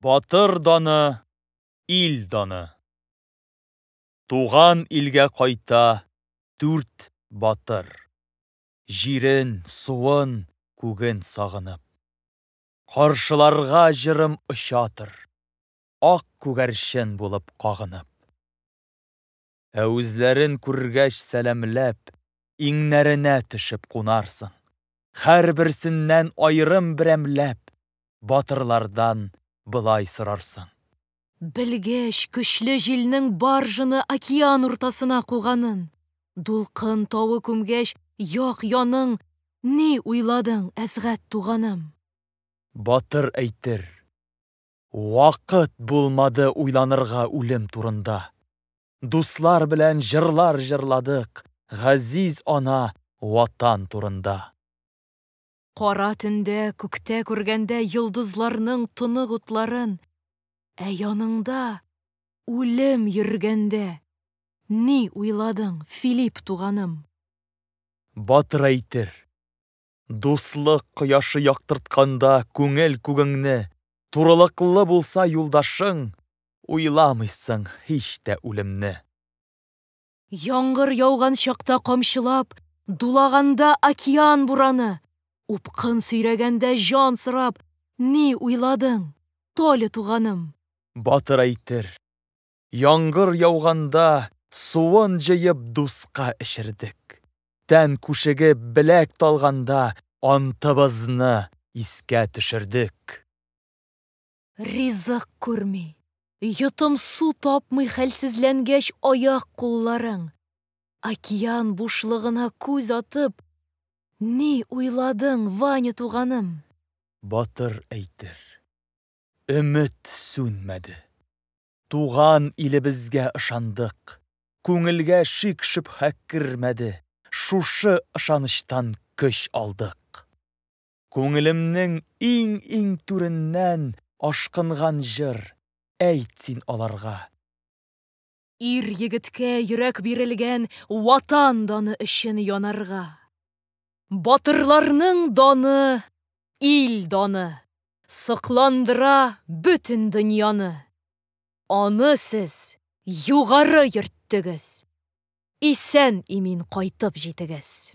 Батыр даны, ил даны. Туган илгә кайта дүрт батыр. Җирен, суын, күген сагынып. Каршыларга җырым очатыр. Ак күгәрчен булып кагынып. Ә үзләрен күргәч сәламләп, иңнәренә төшеп кунарсың. Һәрберсеннән аерым берәмләп, батырлардан былай сорарсың. Белгәч, көчле җилнең баржаны океан уртасына куганын, дулкын тавы күмгәч як яның, ни уйладың, Әсгать туганым? Батыр әйтер. Вакыт булмады уйланырга үлем турында. Дуслар белән җырлар җырладык газиз ана, Ватан турында. Кара төндә күктә күргәндә йолдызларның тонык утларын, Ә яныңда үлем йөргәндә ни уйладың, Филипп туганым? Батырайтыр, Дуслык кояшы яктыртканда күңел күгеңне, Турылыклы булса юлдашың, Уйламыйсың һич тә үлемне. Яңгыр яуган чакта камчылап, Дулаганда океан бураны, Упкын сөйрәгәндә җан сорап, Ни уйладың, Толя туганым? Батыр әйтер, Яңгыр яуганда, суын җыеп дуска эчердек. Тән күшегеп беләк талганда, антыбызны искә төшердек. Ризык күрми, йотым-су тапмый хәлсезләнгәч аяк-кулларың, океан бушлыгына күз атып, ни уйладың, Ваня туганым? Батыр әйтер. Өмет сүнмәде. Туган илебезгә ышандык. Күңелгә шик-шөбһә кермәде. Шушы ышанычтан көч алдык. Күңелемнең иң-иң түреннән Ашкынган җыр, әйт син аларга. Ир-егеткә йөрәк бирелгән Ватан даны өчен янарга! Батырларның даны, ил даны Сокландыра бөтен дөньяны! Аны сез югары йөрттегез! Исән-имин кайтып җитегез!